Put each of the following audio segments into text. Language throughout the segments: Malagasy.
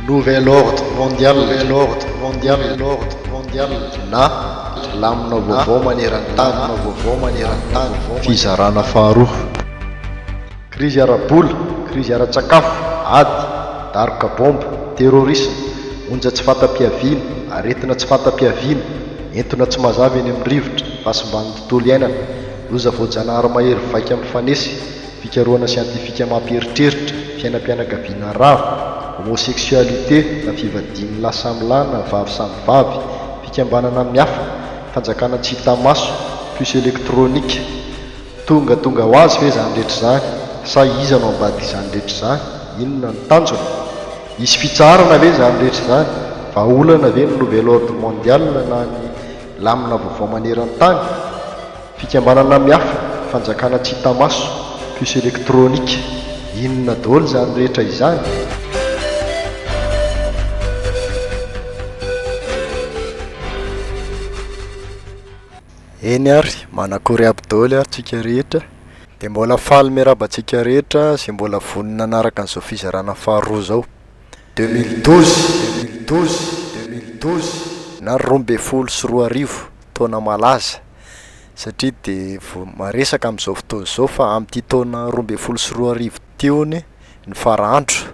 Nouvel ordre mondial, nouvel ordre mondial, nouvel ordre mondial, na lamina vaovao maneran-tany, lamina vaovao maneran-tany, fizarana faharoa. Krizy ara-bola, krizy ara-tsakafo, ady, daroka baomba, terrorisme, onja tsy fanta-piaviana, aretina tsy fanta-piaviana, entona tsy mazava eny amin'ny rivotra, fahasimban'ny tontolo iainana, loza voajanahary mahery vaika mifanesy, fikarohana siantifika mampieritreritra, fiainam-pianakaviana rava, homosexualité na fivadian'ny lahy samy lahy na vavy samy vavy, fikambanana miafina, fanjakana tsy hita maso, puce électronique. Tonga tonga ho azy ve izany rehetra izany? Sa iza no ambadik'izany rehetra izany? Inona no tanjona? Hisy fitsaharana ve izany rehetra izany? Vahaolana ve ny nouvel ordre mondial na ny lamina vaovao maneran-tany? Fikambanana miafina, fanjakana tsy hita maso, puce électronique, inona daholo izany rehetra izany? Eny ary, manakory aby daholo ary tsika rehetra, dia mbola faly miarahaba antsika rehetra izay mbola vonona hanaraka an'izao fizarana faharoa izao. Deux mille douze, deux mille douze, deux mille douze. Na roa ambin'ny folo sy roa arivo, taona malaza, satria dia vao maresaka amin'izao fotoana izao fa amin'ity taona roa ambin'ny folo sy roa arivo ity hono ny fara andro,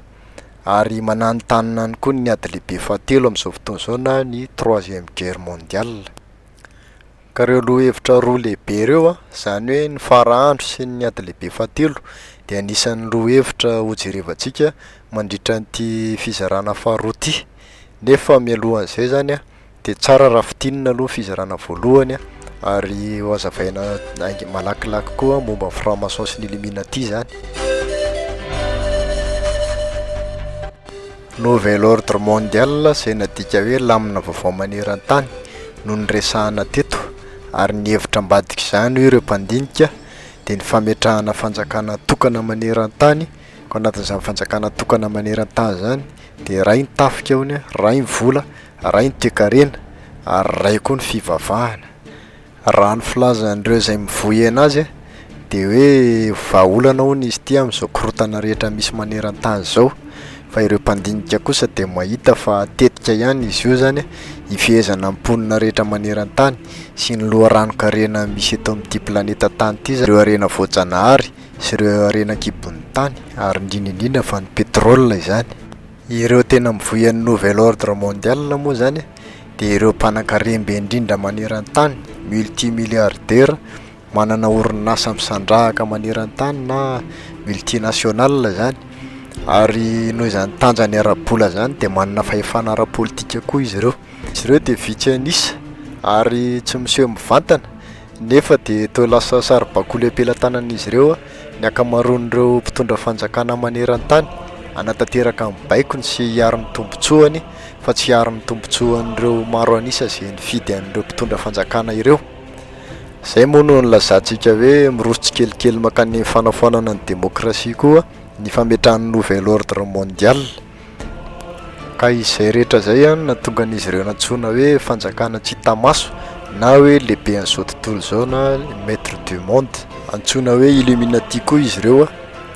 ary mananontanona any koa ny ady lehibe fahatelo amin'izao fotoana izao na ny troisième guerre mondiale. Ka ireo lohahevitra roa lehibe ireo an, izany hoe ny fara-andro sy ny ady lehibe fahatelo dia anisan'ny lohahevitra hojerevantsika mandritra an'ity fizarana faharoa ity. Nefa mialohan'izay izany an, dia tsara raha fintinina aloha ny fizarana voalohany an, ary hozavaina haingana malakilaky koa momba ny franc maçon sy ny illuminati izany. Nouvel ordre mondial izay nadika hoe lamina vaovao maneran-tany no niresahana teto ary ny hevitra ambadik'izany hoy ireo mpandinika dia ny fametrahana fanjakana tokana maneran-tany ka ao anatin'izany fanjakana tokana maneran-tany izany dia iray ny tafika hono, iray ny vola, iray ny toekarena ary iray koa ny fivavahana. Raha ny filazan'ireo izay mivoy ena azy dia hoe vahaolana hono izy ity amin'izao korontana rehetra misy maneran-tany izao fa ireo mpandinika kosa dia mahita fa tetika ihany izy io izany hifehezana ny mponina rehetra maneran-tany sy ny loharanon-karena misy eto amin'ity planeta tany ity izany ireo harena voajanahary sy ireo harena an-kibon'ny tany ary indrindra indrindra fa ny pétrole izany. Ireo tena mivoy an'ny nouvel ordre mondial moa izany dia ireo mpanankarembe indrindra maneran-tany, multimilliardaires, manana orinasa misandrahaka maneran-tany na multinationales izany ary noho izany tanjany ara-bola izany dia manana fahefana ara-politika koa izy ireo. Izy ireo dia vitsy an'isa ary tsy miseho mivantana. Nefa dia toa lasa saribakoly am-pelatanan'izy ireo ny ankamaroan'ireo mpitondra fanjakana maneran-tany, hanatanteraka ny baikony sy hiaro ny tombontsoany fa tsy hiaro ny tombontsoan'ireo maro an'isa izay nifidy an'ireo mpitondra fanjakana ireo. Izay moa no nilazantsika hoe miroso tsikelikely mankany amin'ny fanafoanana ny demokrasia koa ny fametrahan'ny nouvel ordre mondial. Ka izay rehetra izay no nahatonga an'izy ireo nantsoina hoe fanjakana tsy hita maso na hoe lehiben'izao tontolo izao na maître du monde. Antsoina hoe illuminati koa izy ireo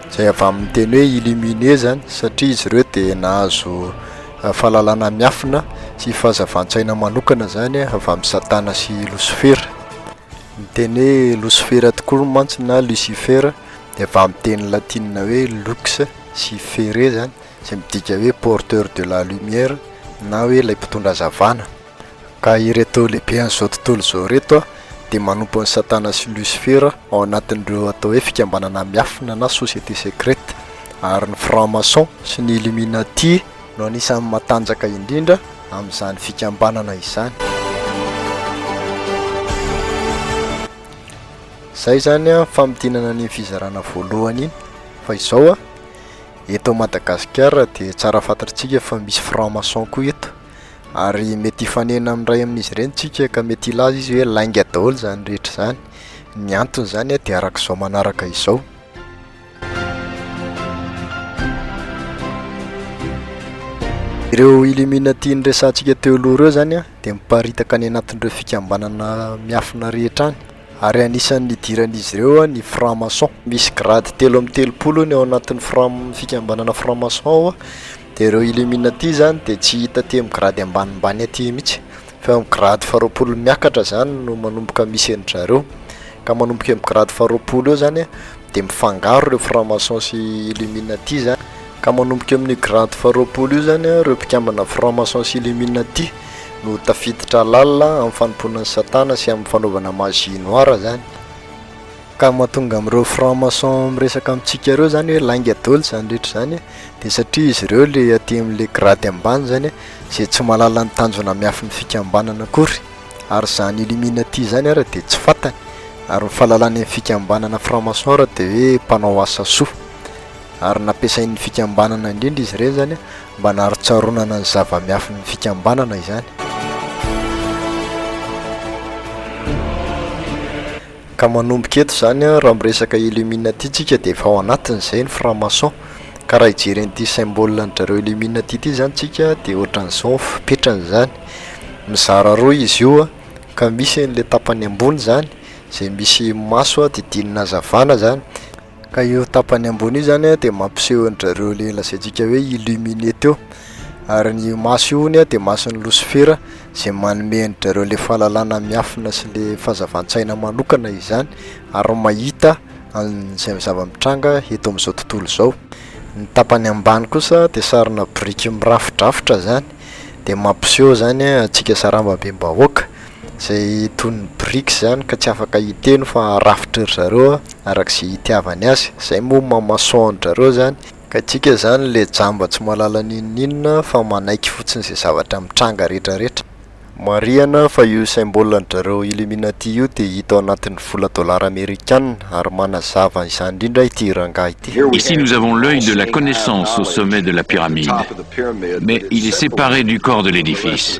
izay avy amin'ny teny hoe illuminer izany satria izy ireo dia nahazo fahalalana miafina sy fahazavan-tsaina manokana izany avy amin'i Satana sy Losifera. Ny teny hoe Losifera tokoa mantsy na Lucifer dia avy amin'ny teny latinina hoe lux. sy ferre zany izay midika hoe porteur de la lumière na hoe ilay mpitondra hazavana ka ireto lehibehan'izao tontolo izao ireto dia manompo an'i satana sy lucifera ao anatin'ireo atao hoe fikambanana miafina na société secrète ary ny franc maçon sy ny illuminati no anisan'ny matanjaka indrindra amin'izany fikambanana izany. Zay zany an famintinana an'iny fizarana voalohany iny fa izao an eto Madagasikara dia tsara fantatr'tsika fa misy franc maçon koa eto ary mety hifanena amin'ny iray amin'izy ireny tsika ka mety hilaza izy hoe lainga daholo zany rehetra zany, ny antony zany an dia arak'izao manaraka izao. Ireo illuminati niresahantsika teo aloha ireo zany an dia miparitaka any anatin'ireo fikambanana miafina rehetra any. Ary anisan'ny nidiran'izy ireo ny franc-maçon. Misy grade telo amby telopolo ny ao anatin'ny fram fikambanana franc-maçon ao dia ireo illuminati zany dia tsy hita aty amin'ny grade ambanimbany aty mihitsy fa eo amin'ny grade faharoapolo miakatra zany no manomboka misy an-dry zareo ka manomboka eo amin'ny grade faharoapolo eo zany an dia mifangaro ireo franc-maçon sy illuminati zany ka manomboka eo amin'io grade faharoapolo io zany an ireo mpikambana franc-maçon sy illuminati no tafiditra lalina amin'ny fanompoana an'i Satana sy amin'ny fanaovana magie noire zany. Ka mahatonga amin'ireo franc maçon miresaka amintsika ireo zany hoe lainga daholo izany rehetra izany dia satria izy ireo ilay aty amin'ilay grade ambany zany izay tsy mahalala ny tanjona miafin'ny fikambanana akory ary izany illuminati izany ary dia tsy fantany ary ny fahalalany amin'ny fikambanana franc maçon ary dia hoe mpanao asa soa ary nampiasain'ny fikambanana indrindra izy ireny zany Mba naharitsaronana ny zava-miafin'ny fikambanana izany, ka manomboka eto izany raha miresaka Illuminati tsika dia efa ao anatin'izay ny franc-maçon, ka raha hijery an'ity symbole an-dRareo Illuminati ity izany tsika dia ohatran'izao ny fepetrany izany, mizara roa izy io ka misy an'ilay tapany ambony izany izay misy maso didinina hazavana izany, Ka io tapany ambony io zany dia mampiseho an-dry zareo le lazaintsika hoe illuminé teo, ary io maso io hono dia mason'i Losifera izay manome an-dry zareo le fahalalana miafina sy le fahazavan-tsaina manokana izany ary mahita an'izay zava-mitranga eto amin'izao tontolo izao, ny tapany ambany kosa dia sarina biriky mirafidrafitra zany dia mampiseho zany antsika sarambabem-bahoaka. Izay toy ny brics izany ka tsy afaka hiteny fa rafitry ry zareo araka izay hitiavany azy. Izay moa maha maçon an-dry zareo izany. Ka isika izany ilay jamba tsy mahalala n'inon'inona fa manaiky fotsiny izay zavatra mitranga retraretra. Marihana fa io symbole an-dry zareo Illuminati io dia hita ao anatin'ny vola dolara amerikana ary manazava izany indrindra ity rangahy ity. Ici nous avons l'oeil de la connaissance au sommet de la pyramide mais il est séparé du corps de l'édifice.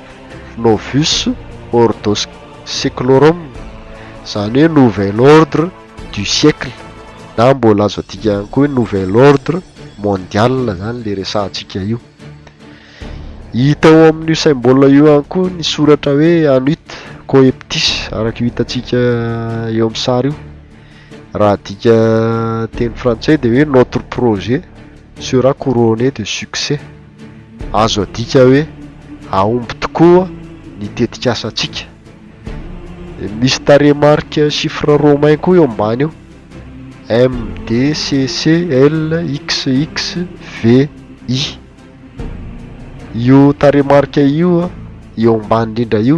Novus Ordo Seclorum, izany hoe Nouvel Ordre du Siècle, na mbola azo adika ihany koa hoe Nouvel Ordre Mondial izany ilay resahantsika io. Hita ao amin'io symbole io ihany koa ny soratra hoe Anuit Coeptis, araka io hitantsika eo amin'ny sary io. Raha adika teny frantsay dia hoe Notre projet sera couronné de succès. Azo adika hoe hahomby tokoa ny tetikasantsika. Misy tarehimarika chiffres romains koa eo ambany eo, MDCCLXXVI. Io tarehimarika io eo ambany indrindra io.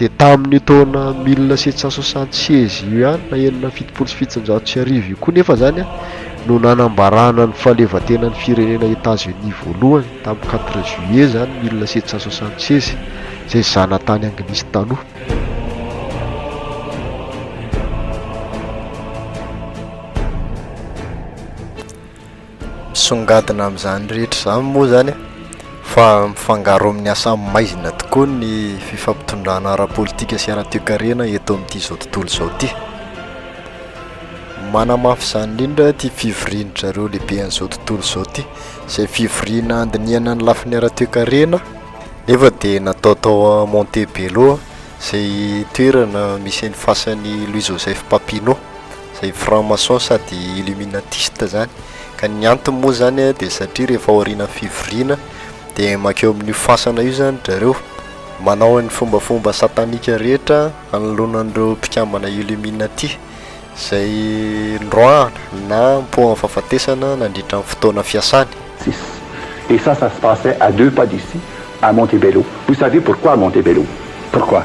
Dia tamin'io taona mille sept cent soixante seize io ihany na enina amby fitopolo sy fitonjato sy arivo io koa nefa izany no nanambarana ny fahaleovantenan'ny firenena Etats-Unis voalohany tamin'ny quatre juillet izany mille sept cent soixante seize izay zanatany anglisy taloha. Misongadina amin'izany rehetra izany moa izany fa mifangaro amin'ny asa maizina tokoa ny fifampitondrana ara-politika sy ara-toekarena eto amin'ity izao tontolo izao ity. Manamafy izany indrindra ity fivorian-dry zareo lehibe an'izao tontolo izao ity, izay fivoriana handinihana ny lafiny ara-toekarena nefa dia natao tao Montebello izay toerana misy an'i fasan'i Louis Joseph Papineau. izay franc maçon sady illuminatiste zany, ka ny antony moa zany a de satria rehefa aorianan'ny fivoriana de mankeo amin'io fasana io zany dry zareo, manao ny fombafomba satanika rehetra hanoloana an'ireo mpikambana illuminati izay noroahana na nipoahan'ny fahafatesana nandritra ny fotoana fiasany. Six. Et ça, ça se passait à deux pas d'ici, à Montebello. Vous savez pourquoi à Montebello? Pourquoi?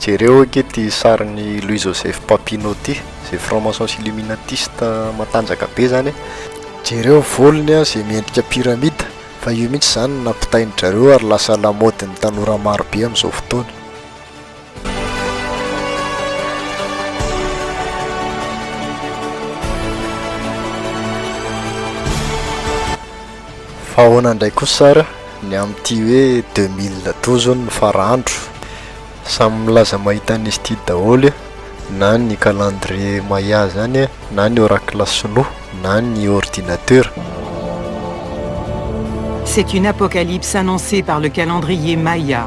Jereo ange ity sarin'i Louis Joseph Papineau ity, izay franc-maçons illuminatistes matanjaka be izany e! Jereo ny volony an, izay miendrika pyramide, fa io mihitsy izany no nampitain'i drareo ary lasa lamaodin'ny tanora maro be amin'izao fotoana. Fa ahoana indray kosa ary ny amin'ity hoe deux mille douze hono no fara-andro? Samy milaza mahita an'izy ity daholo io, na ny calendrier Maya izany na ny oracle sinoa na ny ordinatera. C'est une apocalypse annoncée par le calendrier Maya.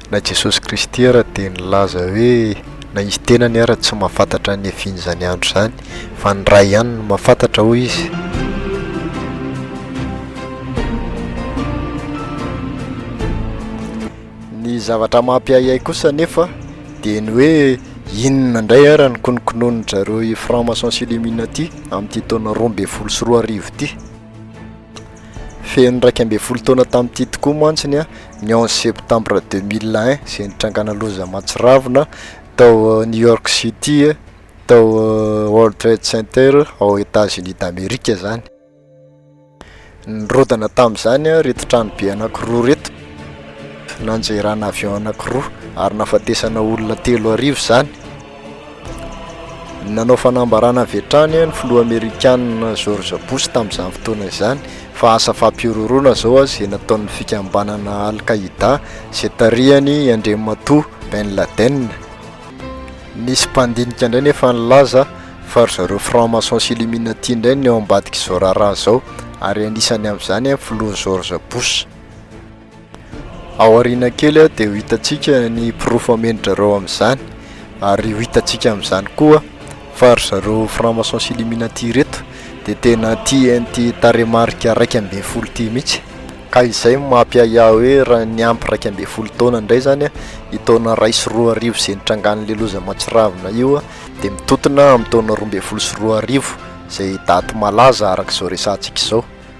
Na Jesosy Kristy ara dia nilaza hoe na izy tenany ara tsy mahafantatra ny efin'izany andro izany fa ny Ray ihany no mahafantatra hoy izy. Ny zavatra mampiahiahy kosa anefa dia ny hoe inona indray ara no konokononin-dry zareo i Franc Maçon sy Illuminati amin'ity taona roa ambin'ny folo sy roa arivo ity. Feno iraika ambin'ny folo taona tamin'ity tokoa mantsy ny ny onze septembre deux mille un izay nitrangana loza mahatsiravina tao New York City tao World Trade Center ao Etats Unis d'Amerique izany. Nirodana tamin'izany ireto tranobe anankiroa ireto, nanjerana avion anankiroa ary nahafatesana olona telo arivo izany. Nanao fanambarana avy hatrany ny filoha amerikana George Bush tamin'izany fotoana izany fa asa fampihorohoroana izao izay nataon'ny fikambanana Al-Qaida izay tarihan'i Andriamatoa Ben Laden. Nisy mpandinika indray nefa nilaza fa ry zareo franc-maçon sy illuminati indray no ao ambadik'izao raharaha izao ary anisany amin'izany ny filoha George Bush. Ao aoriana kely dia ho hitantsika ny porofo hamendri-drareo amin'izany, ary ho hitantsika amin'izany koa fa ry zareo franc-maçons sy illuminati ireto dia tena tia an'ity tarehimarika iraika ambin'ny folo ity mihitsy, ka izay no mampiahiahy hoe raha niampy iraika ambin'ny folo taona indray izany io taona iray sy roa arivo izay nitrangan'ilay loza mahatsiravina io dia mitontona amin'ny taona roa ambin'ny folo sy roa arivo izay daty malaza araka izao resahantsika izao.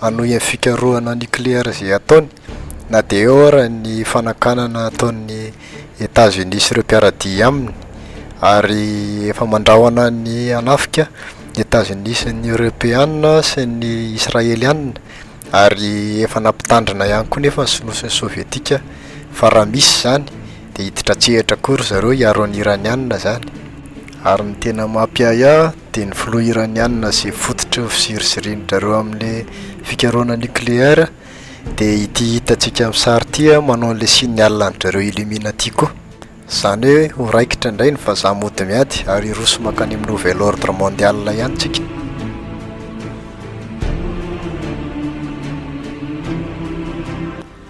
Hanohy ny fikarohana nikleary izay ataony, na dia eo ara ny fanakanana ataon'i Etazonia sy ireo mpiara-dia aminy, ary efa mandrahona ny hanafika ny Etazonia sy ny Eoropeana sy ny Israeliana, ary efa nampitandrina ihany koa nefa ny Sinoa sy ny Sovietika fa raha misy izany dia hiditra an-tsehatra koa ry zareo hiaro an'i Iraniana izany, ary ny tena mampiahiahy, dia ny filoha Iraniana izay fototry ny fizirizirian-dry zareo amin'ny fikarohana nucléaire dia ity hitantsika amin'ny sary ity an, manao an'ilay signe Allan-dry zareo Illuminati koa. Izany hoe ho raikitra indray ny vazaha mody miady ary hiroso mankany amin'ny nouvel ordre mondial ihany tsika.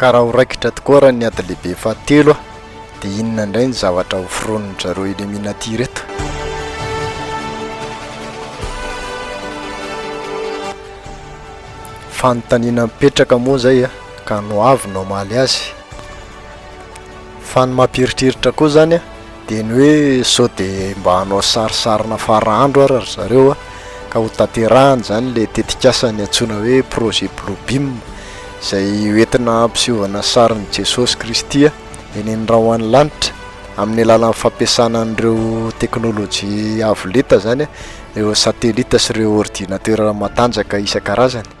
Ka raha ho raikitra tokoa ary ny ady lehibe fahatelo dia inona indray ny zavatra ho foronin-dry zareo Illuminati ireto? Fanontaniana mipetraka moa izay a! Ka no avy no hamaly azy. Fa ny mampieritreritra koa izany a! Dia ny hoe sao dia mba hanao sarisarina fara andro ara ry zareo a, ka ho tanterahany izany ilay tetikasa niantsoana hoe projet Bluebeam, izay ho entina hampisehovana sarin'i Jesosy Kristy a, eny amin'ny ra ho any lanitra, amin'ny alalan'ny fampiasana an'ireo teknolojia avo lenta izany a, ireo satellite sy ireo ordinatera matanjaka isan-karazany.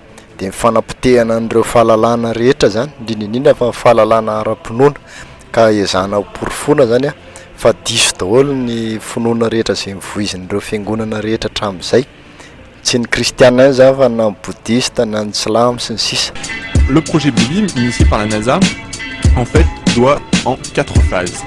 dia ny fanapotehana an'ireo fahalalahana rehetra izany, indrindra indrindra fa ny fahalalahana ara-pinoana, ka ezahana hoporofoina izany an, fa diso daholo ny finoana rehetra izay novoizin'ireo fiangonana rehetra hatramin'izay, tsy ny kristiana ihany izany fa na ny bodista, na ny silamo sy ny sisa. Le projet Believe initié par la NASA en fait doit en quatre phases.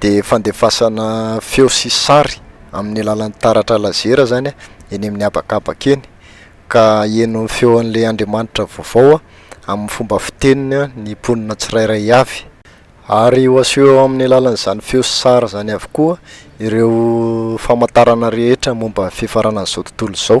dia fandefasana feo sy sary amin'ny alalan'ny taratra lazera izany eny amin'ny habakabaka eny ka haheno ny feon'ilay Andriamanitra vaovao amin'ny fomba fiteniny ny mponina tsirairay avy. Ary ho aseho eo amin'ny alalan'izany feo sy sary izany avokoa ireo famantarana rehetra momba ny fifaranan'izao tontolo izao.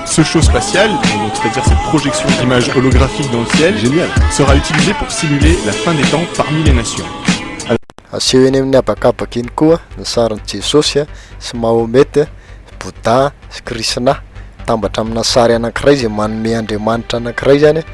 Ce show spatial, donc c'est-à-dire cette projection d'images holographiques dans le ciel, Génial. sera utilisé pour simuler la fin des temps parmi les nations. Aseho eny amin'ny habakabaka eny koa ny sarin'i Jesosy a, sy Mahomet a, Bouddha sy Krisna. Mitambatra amina sary anankiray izay manome andriamanitra anankiray izany a.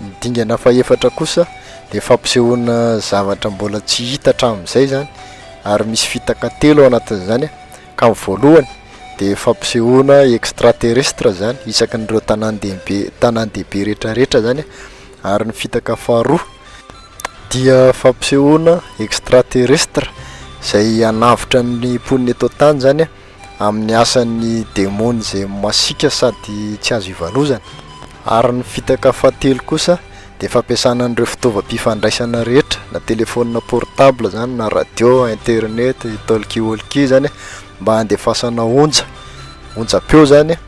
Ny dingana fahefatra kosa dia fampisehoana zavatra mbola tsy hita hatramin'izay izany ary misy fitaka telo ao anatin'izany ka ny voalohany dia fampisehoana extraterrestre izany isaky ny ireo tanàn-dehibe tanàn-dehibe rehetrarehetra izany ary ny fitaka faharoa dia fampisehoana extraterrestre izay hanavotra ny mponina eto an-tany izany amin'ny asan'ny demony izay masiaka sady tsy azo ivalozana, ary ny fitaka fahatelo kosa dia fampiasana an'ireo fitaovam-pifandraisana rehetra na telephone portable izany na radio, internet, talkie walkie izany mba handefasana onja, onjam-peo izany.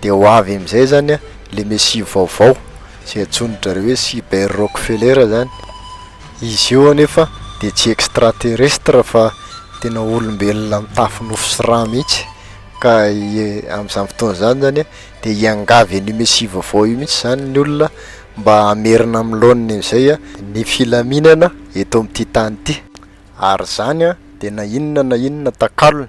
Dia ho avy amin'izay izany ilay mesia vaovao, izay antsoin-dry zareo hoe Cyber Rockefeller izany. Izy io anefa dia tsy extraterrestre fa tena olombelona mitafy nofo sy rà mihitsy. Ka amin'izany fotoana izany izany dia hiangavy an'io mesia vaovao io mihitsy izany ny olona mba hamerina amin'ny laoniny amin'izay ny filaminana eto amin'ity tany ity. Ary izany dia na inona na inona takalony.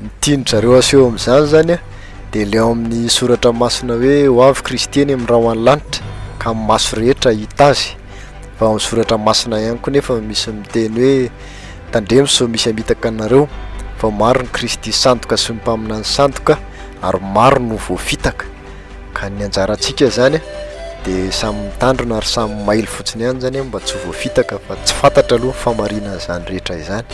Ny tian-dry zareo aseho amin'izany izany an, dia ilay ao amin'ny soratra masina hoe ho avy Kristy eny amin'ny rahona lanitra ka ny maso rehetra hahita Azy. Fa ao amin'ny soratra masina ihany koa nefa no misy miteny hoe tandremo sao misy hamitaka anareo, fa maro ny Kristy sandoka sy ny mpaminany sandoka ary maro no voafitaka. Ka ny anjarantsika zany de samy mitandrina ary samy mailo fotsiny ihany zany mba tsy ho voafitaka fa tsy fantatra aloha ny famarinana izany rehetra izany.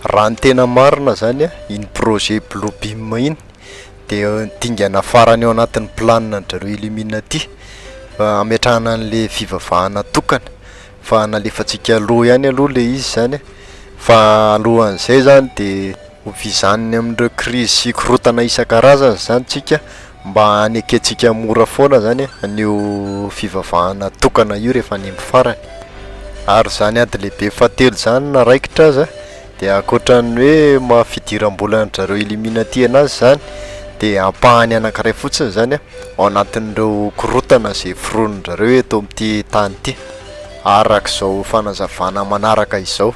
Raha ny tena marina zany iny projet blue beam iny de dingana farany ao anatin'ny planina an-dry zareo illuminati fa hametrahana an'le fivavahana tokana. fa nalefantsika aloha ihany aloha le izy zany fa alohan'izay zany de hovizaniny amin'ireo krizy sy korotana isan-karazany zany tsika mba hanekentsika mora foana zany an'io fivavahana tokana io rehefa any amin'ny farany ary zany ady lehibe fahatelo zany na raikitra aza Dia ankoatran'ny hoe maha fidiram-bola an-dry zareo Illuminati anazy izany dia ampahany anankiray fotsiny izany an, ao anatin'ireo korontana izay foronin-dry zareo eto amin'ity tany ity, araka izao fanazavana manaraka izao.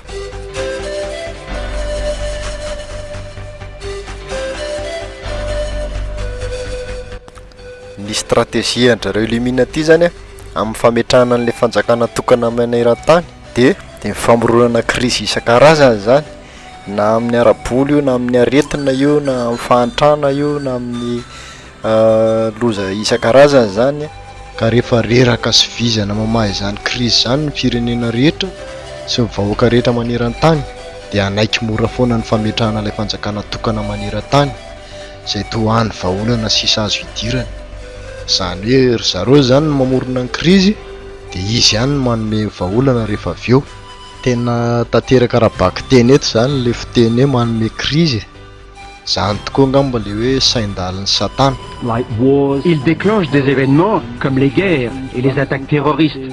Ny strategie an-dry zareo Illuminati izany an, amin'ny fametrahana an'ilay fanjakana tokana maneran-tany, Dia ny famoronana krizy isan-karazany izany, na amin'ny ara-bola io, na amin'ny aretina io, na amin'ny fahantrana io, na amin'ny loza isan-karazany izany, ka rehefa reraka sy vizana mamaha izany krizy izany ny firenena rehetra sy ny vahoaka rehetra maneran-tany dia hanaiky mora foana ny fametrahana ilay fanjakana tokana maneran-tany izay toa hany vahaolana sisa azo hidirany. Izany hoe ry zareo izany no mamorona ny krizy dia izy ihany no manome vahaolana rehefa avy eo. Tena tanteraka ara-bakiteny eto izany ilay fiteny hoe manome krizy e! Izany tokoa angamba ilay hoe sain-dalin'i Satana. Il declenche des événements comme les guerres et les attaques terroristes.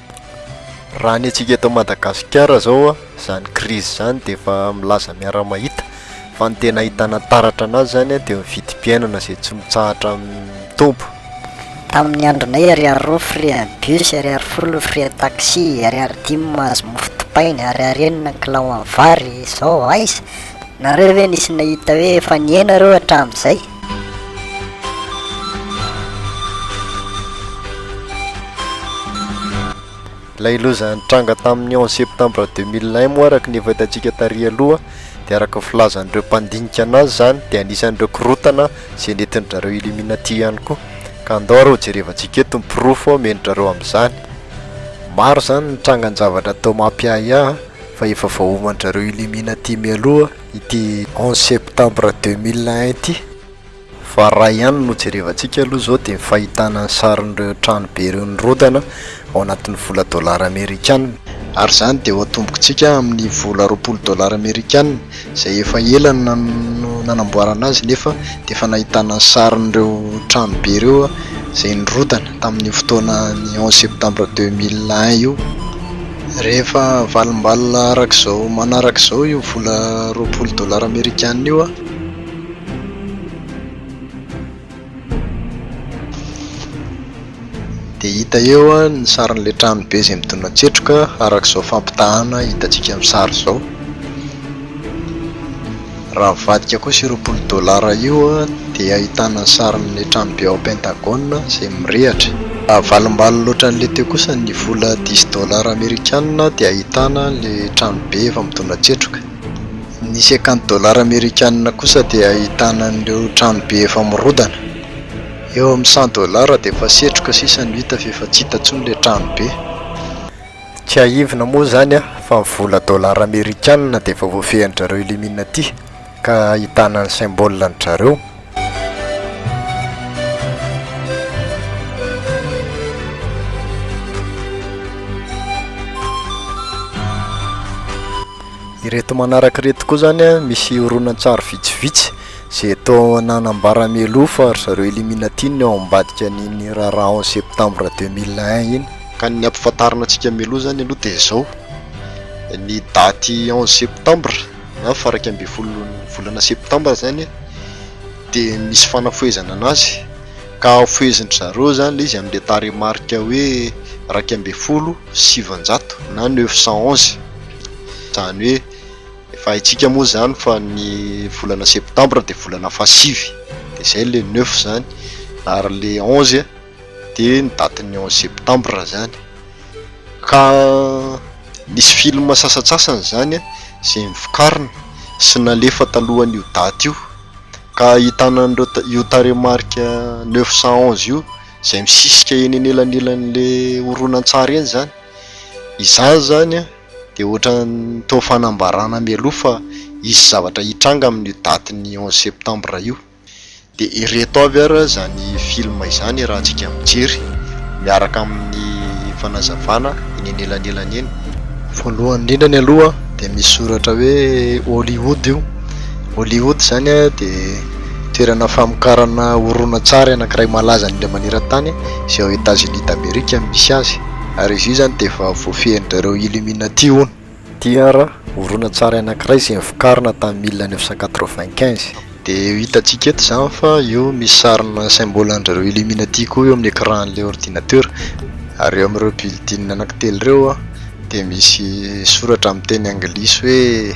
Raha ny antsika eto Madagasikara izao, izany krizy izany dia efa milaza miara-mahita fa ny tena ahitana taratra an'azy izany dia ny vidim-piainana izay tsy mitsahatra mitombo. Tamin'ny andronay ariary roa frais bus, ariary folo frais taxi, ariary dimy mahazo mofo dipaina, ariary enina ny kilao amin'ny vary, izao aiza? Nareo ve nisy nahita hoe efa nihena ireo hatramin'izay? Ilay loza nitranga tamin'ny onze septembre deux mille un moa araka ny efa hitantsika tary aloha dia araka ny filazan'ireo mpandinika an'azy izany dia anisan'ireo korontana izay nentin-dry zareo Illuminati ihany koa ka andao ary hojerevantsika eto ny porofo omen-dry zareo amin'izany. Maro izany ny trangan-javatra tao Mapiahiahy fa efa voaoman-dry zareo Illuminati mialoha ity onze septembre deux mille un ity fa raha ihany no jerevantsika aloha izao dia ny fahitana ny sarin'ireo trano be ireo nirodana ao anatin'ny vola dollars amerikana, ary izany dia ho atombontsika amin'ny vola roapolo dollars amerikana izay efa ela no nanamboarana azy nefa dia efa nahitana ny sarin'ireo trano be ireo izay nirodana tamin'io fotoana ny onze septembre deux mille un io. Rehefa valim-balona araka izao manaraka izao io vola roapolo dolara amerikana io, dia hita eo ny sarin'ilay tranobe izay midona an-tsetroka araka izao fampitahana hitantsika amin'ny sary izao. Raha mivadika kosa ireo polo dolara io dia ahitana ny sarin'ny tranobe ao Pentagone izay mirehatra. Raha avalimbany loatra an'ilay teo kosa ny vola dix dolara amerikana dia ahitana ilay tranobe efa midona tsetroka. Ny cinquante dolara amerikana kosa dia ahitana an'ireo tranobe efa mirodana. Eo amin'ny cent dolara dia efa setroka sisa no hita fa efa tsy hita intsony ilay tranobe. Tsiahivina moa izany fa ny vola dolara amerikanina dia efa voafehin-dRareo Illuminati ka ahitana ny symbole an-dRareo. Ireto manaraka ireto koa izany misy horonantsary vitsivitsy. Zeto nanambara mialoha fa ry zareo Illuminati no ao ambadika an'iny raharaha onze septembre deux mille un iny. Ka ny ampifantarina antsika mialoha izany aloha dia izao, ny daty onze septembre na faraika ambin'ny folon'ny volana septembre izany dia misy fanafohezana an'azy ka fohezin-dry zareo izany ilay izy amin'ilay tarehimarika hoe iraika ambin'ny folo sy sivinjato na neuf cent onze izany hoe Efa haintsika moa izany fa ny volana septambra dia volana fahasivy, dia izay ilay neuf izany, ary ilay onze dia ny datin'ny onze septambra izany. Ka nisy film sasantsasany izany izay novokarina sy nalefa talohan'io daty io, ka ahitana an'ireo io tarehimarika neuf cent onze io izay misisika eny anelanelan'ilay horonantsary eny izany. Izany izany an! Dia ohatran'ny toa fanambarana mialoha fa hisy zavatra hitranga amin'io datin'ny onze septembre io. Dia ireto avy ary izany film izany raha antsika mijery miaraka amin'ny fanazavana eny anelanelany eny. Voalohany indrindra ny aloha dia misy soratra hoe Hollywood io. Hollywood izany dia toerana famokarana horonantsary anankiray malaza indrindra maneran-tany izay ao Etats-Unis d'Amerique no misy azy. ary izy io izany dia efa voafehin'izareo Illuminati hono. TR, Horonantsary anankiray izay vokarina tamin'ny mille neuf cent quatre-vingt-quinze. Dia io hitantsika eto izany fa io misy sarina symbole an'izareo Illuminati koa eo amin'ny écran-n'ilay ordinateur, ary eo amin'ireo building anankitelo ireo dia misy soratra amin'ny teny anglisy hoe.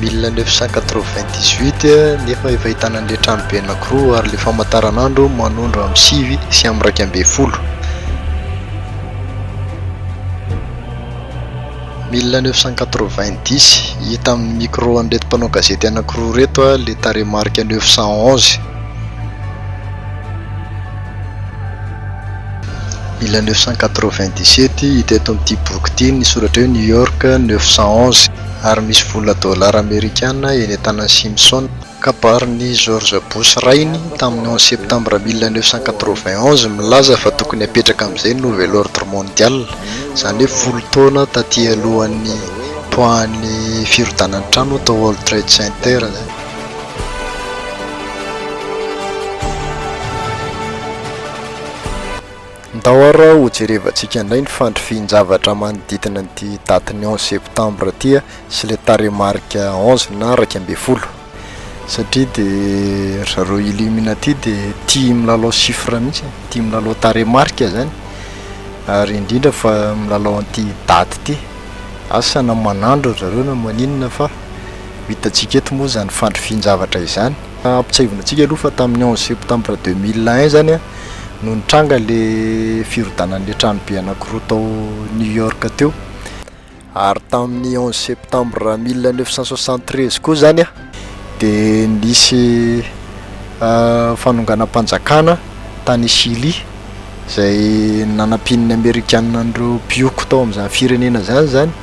mille neuf cent quatre-vingt-dix-huit nefa efa ahitana an'ilay tranobe anankiroa ary ilay famantaranandro manondro amin'ny sivy sy amin'ny iraika ambin'ny folo. Mille neuf cent quatre-vingt-dix, hita amin'ny micro an'ireto mpanao gazety anankiroa ireto ilay tarehimarika neuf cent onze. Mille neuf cent quatre-vingt-dix-sept, hita eto amin'ity boky ity ny soratra hoe New York neuf cent onze. ary misy vola dolara amerikana eny an-tanan'i Simpson. Kabarin'i George Bush rainy tamin'ny onze septambra mille neuf cent quatre-vingt-onze milaza fa tokony hapetraka amin'izay ny Nouvel Ordre Mondial, izany hoe folo taona taty alohan'ny nipoahan'ny firodanan'ny trano tao World Trade Center izany. Ndao ary ho jerevantsika indray ny fandrifian-javatra manodidina an'ity datin'ny onze septembre ity sy ilay tarehimarika onze na iraika ambin'ny folo satria dia ry zareo Illuminati dia tia milalao chiffre mihitsy e, tia milalao tarehimarika izany ary indrindra fa milalao an'ity daty ity. Asa na manandro ry zareo na maninona fa ho hitantsika eto moa izany fandrifian-javatra izany. Ampitsiahivina antsika aloha fa tamin'ny onze septembre deux mille un izany no nitranga ilay firodanan'ilay tranobe anankiroa tao New York teo, ary tamin'ny onze septembre mille neuf cent soixante treize koa izany dia nisy fanonganam-panjakana tany Chili izay nanampian'ny Amerikana an'ireo mpihoko tao amin'izany firenena izany izany.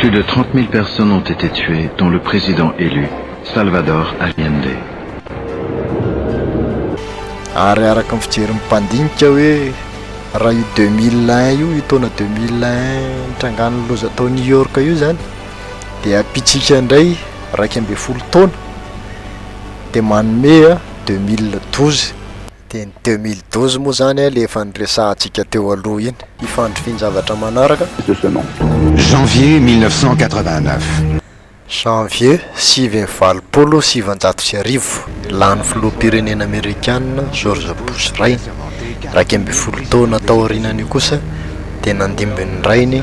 Plus de trente mille personnes ont été tuées, dont le président élu, Salvador Allende. Ary araka ny fijerin'ny mpandinika hoe raha io deux mille un io, io taona deux mille un nitrangan'ny loza tao New York io izany dia ampitsika indray iraika ambin'ny folo taona dia manome deux mille douze. Dia ny deux mille douze moa izany ilay efa niresahantsika teo aloha iny. Hifandry fin-javatra manaraka. Janvier mille neuf cent quatre-vingt-neuf. Janvier sivy amby valopolo sy sivinjato sy arivo, lany filoham-pirenena amerikana George Bush rainy. Iraika ambin'ny folo taona taorianan'io kosa dia nandimby ny rainy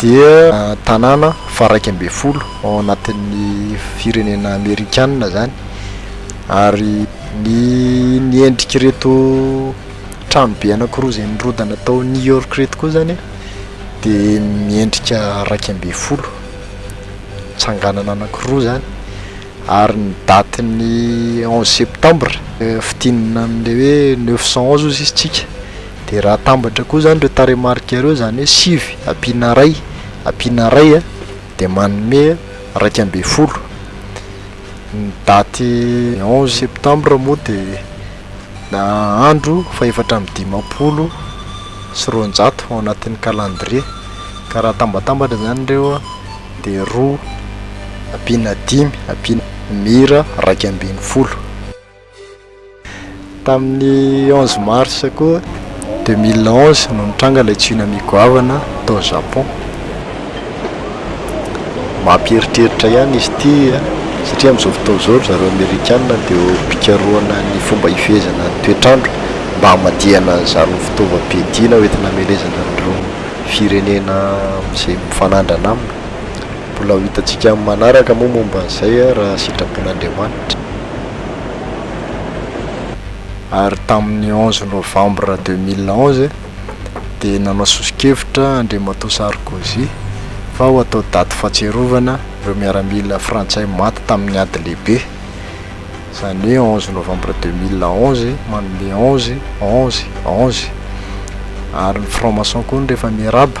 dia tanàna faharaika ambin'ny folo ao anatin'ny firenena amerikana izany ary ny ny endrik'ireto tranobe anankiroa izay nirodana tao New York ireto koa izany dia miendrika iraika ambin'ny folo, tsanganana anankiroa izany ary ny datin'ny onze septambra, fidinana an'ilay hoe neuf cent onze hoy izy isika. Dia raha atambatra koa izany ireo tarehimarika ireo, izany hoe sivy ampiana iray ampiana iray a, dia manome iraika ambin'ny folo. Ny daty onze septembre moa dia na andro fahefatra amby dimampolo sy roanjato ao anatin'ny calendrier, ka raha atambatambatra izany ireo a dia roa ampiana dimy ampiana mira iraika ambin'ny folo. Tamin'ny onze mars koa deux mille onze no nitranga ilay tsunami goavana tao Japon. Mampieritreritra ihany izy ity an, satria amin'izao fotoana izao ry zareo Amerikana dia eo am-pikarohana ny fomba hifehezana ny toetr'andro mba hamadihana an'izany fitaovam-piadiana hoentina hamelezana an'ireo firenena izay mifanandrina aminy. Mbola ho hitantsika amin'ny manaraka moa momba an'izay raha sitrapon'Andriamanitra. Ary tamin'ny onze novembre deux mille onze dia nanao soso-kevitra Andriamatoa Sarkozy fa ho atao daty fahatsiarovana ireo miaramila frantsay maty tamin'ny ady lehibe, izany hoe onze novembre deux mille onze manome onze, onze, onze. Ary ny franc-maçon koa hono rehefa miarahaba.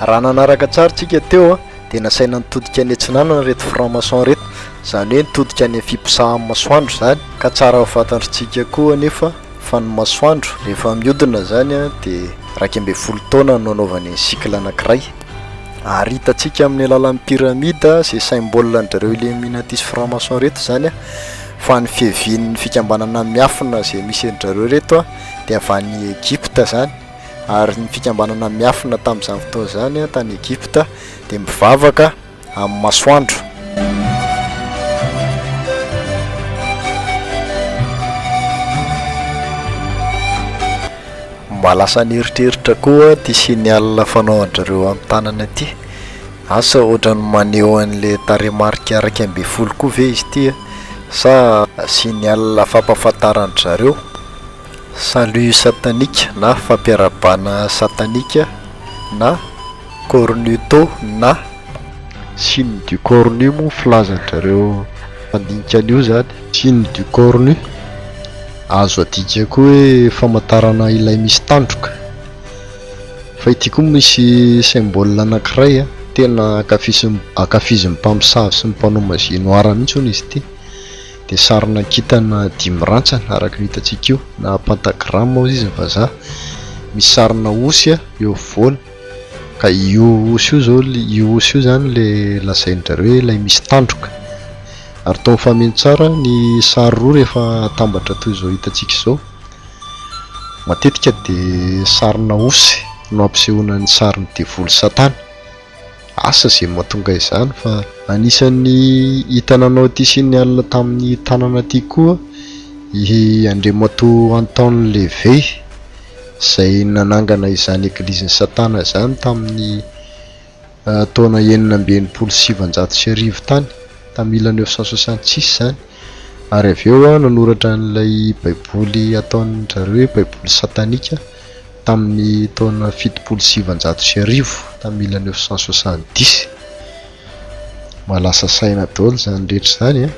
Raha nanaraka tsara tsika teo a, dia nasaina nitodika any atsinanana ireto franc maçon ireto, izany hoe nitodika any amin'ny fiposahan'ny masoandro izany, ka tsara ho fantantritsika koa anefa fa ny masoandro rehefa mihodina izany a, dia iraika ambin'ny folo taona no anaovany ny cycle anankiray, ary hitantsika amin'ny alalan'ny pyramide izay symbole an-dry zareo illuminatis franc maçon ireto izany a, fa ny fiavian'ny fikambanana miafina izay misy an-dry zareo ireto a, dia avy any Egypta izany. ary ny fikambanana miafina tamin'izany fotoana izany tany Egypta dia mivavaka amin'ny masoandro. Mba lasa an'eritreritra koa ity signal fanaon-dry ireo amin'ny tanana ity. Asa ohatran'ny maneho an'ilay tarehimarika iraika ambin'ny folo koa ve izy ity sa signal fampahafantaran-dry zareo? Salut satanique na fampiarabana satanique na cornuto na. Signe du cornu moa filazanjareo mandinika an'io zany. Signe du cornu, azo adika koa hoe famantarana ilay misy tandroka. Fa ity koa misy symbole anankiray a, tena ankafizin'ny ankafizin'ny mpamosavy sy ny mpanao magie noire mihitsy hono izy ity. dia sarina kintana dimy rantsana araka ny hitantsika io na pentagramme hozy izy ny vazaha, misy sarina osy eo afovoany ka io osy io izao, io osy io izany ilay lazain-dRareo hoe ilay misy tandroka ary toa mifameno tsara ny sary roa rehefa atambatra toy izao hitantsika izao, matetika dia sarina osy no ampisehoana ny sarin'ny devoly satana. Asa izay mahatonga izany fa. Anisan'ny hita nanao ity signe alina tamin'ny tanana ity koa i Andriamatoa Anton Levey izay nanangana izany Eglizin'i Satana izany tamin'ny taona enina amby enimpolo sy sivanjato sy arivo tany, tamin'ny mille neuf cent soixante six izany, ary avy eo nanoratra an'ilay Baiboly ataon-dry zareo hoe Baiboly Satanika. tamin'ny taona fitopolo sy sivinjato sy arivo tamin'ny mille neuf cent soixante dix. Mba lasa saina daholo izany rehetra izany an.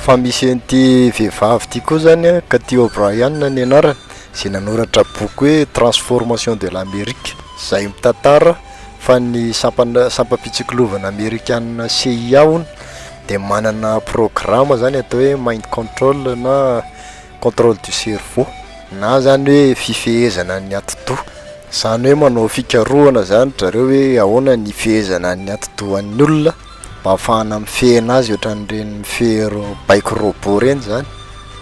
Fa misy an'ity vehivavy ity koa zany an, Cathy O'Brien ny anarany, izay nanoratra boky hoe Transformation de l'Amérique, izay mitantara fa ny sampan- sampam-pitsikilovana amerikana CIA hono, dia manana programme zany atao hoe mind control na controle du cerveau na zany hoe fifehezana ny atidoha, zany hoe manao fikarohana zany dry zareo hoe ahoana ny hifehezana ny atidohan'ny olona mba hahafahana mifehy an'azy ohatran'ireny mifehy ireo baiko robot ireny zany,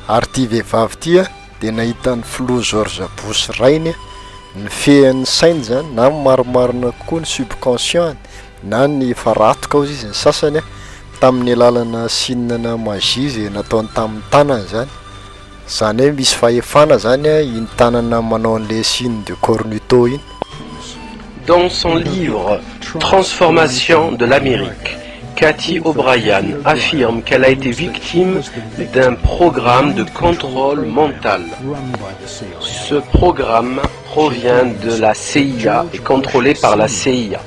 ary ity vehivavy ity an dia nahita an'i filoha George Bush rainy nifehy ny sainy zany na marimarina kokoa ny subconscient-ny. na ny faratoka hozy izy ny sasany a, tamin'ny alalana signe na magie izay nataony tamin'ny tanany izany, izany hoe misy fahefana izany a iny tanana manao an'ilay signe de cornuto iny. Dans son livre Transformation de l'Amérique, Cathy O'Brien affirme qu'elle a été victime d'un programme de contrôle mental. Ce programme provient de la CIA et contrôlé par la CIA.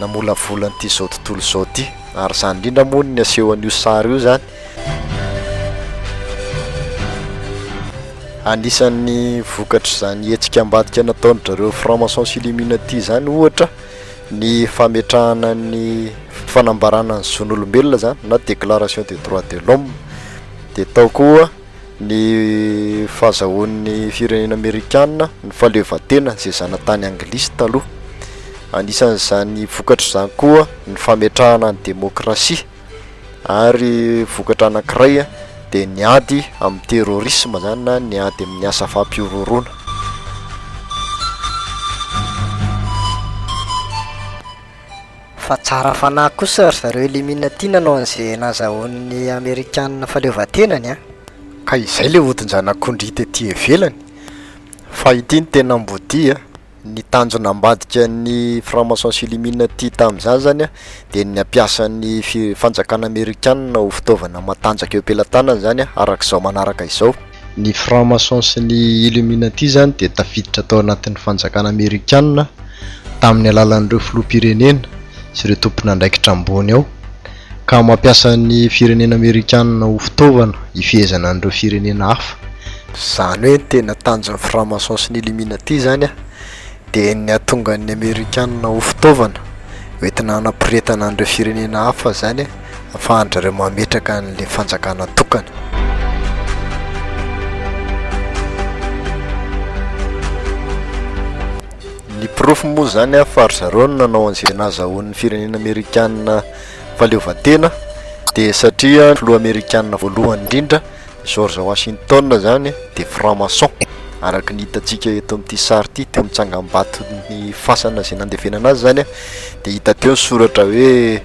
namolavola an'ity izao tontolo izao ity ary izany indrindra moa ny asehon'io sary io izany. Anisan'ny vokatr'izany hetsika ambadika nataon-dry zareo franc-maçons s'illuminati izany ohatra ny fametrahana ny fanambarana ny zon'olombelona izany na déclaration des droits de l'homme dia tao koa ny fahazahoan'ny firenena amerikana ny fahaleovantena izay zanatany anglisy taloha. Anisan'izany vokatra izany koa ny fametrahana ny demokrasia ary vokatra anankiray dia ny ady amin'ny terrorisme izany na ny ady amin'ny asa fampihorohoroana. Fa tsara fanahy kosa ry zareo Illuminati nanao an'ze nazahoan'ny Amerikana fahaleovan-tenany an! Ka izay le odin-janak'ondry hita ety ivelany. Fa ity no tena ambodia an! Ny tanjona ambadika ny franc-maçon sy Illuminati tamin'izany zany an, dia ny hampiasa ny fi-fanjakana Amerikana ho fitaovana matanjaka eo am-pelatanany zany an, arak'izao manaraka izao. Ny franc-maçon sy ny illuminati izany dia tafiditra tao anatin'ny fanjakana amerikana tamin'ny alalan'ireo filoham-pirenena sy ireo tompon'andraikitra ambony ao ka mampiasa ny firenena amerikana ho fitaovana hifehezana an'ireo firenena hafa. Izany hoe ny tena tanjon'ny franc-maçon sy ny illuminati izany dia ny hahatonga ny amerikana ho fitaovana hoentina hanaporetana an'ireo firenena hafa izany e. afahan-dry-zareo mametraka an'ilay fanjakana tokana. Ny porofo moa izany an fa ry-zareo no nanao an'izay nazahoan'ny firenena amerikana fahaleovantena dia satria ny filoha amerikana voalohany indrindra George Washington izany dia franc-maçon araka ny hitantsika eto amin'ity sary ity teo amin'ny tsangambaton'ny fasana izay nandevenana azy izany an dia hita teo ny soratra hoe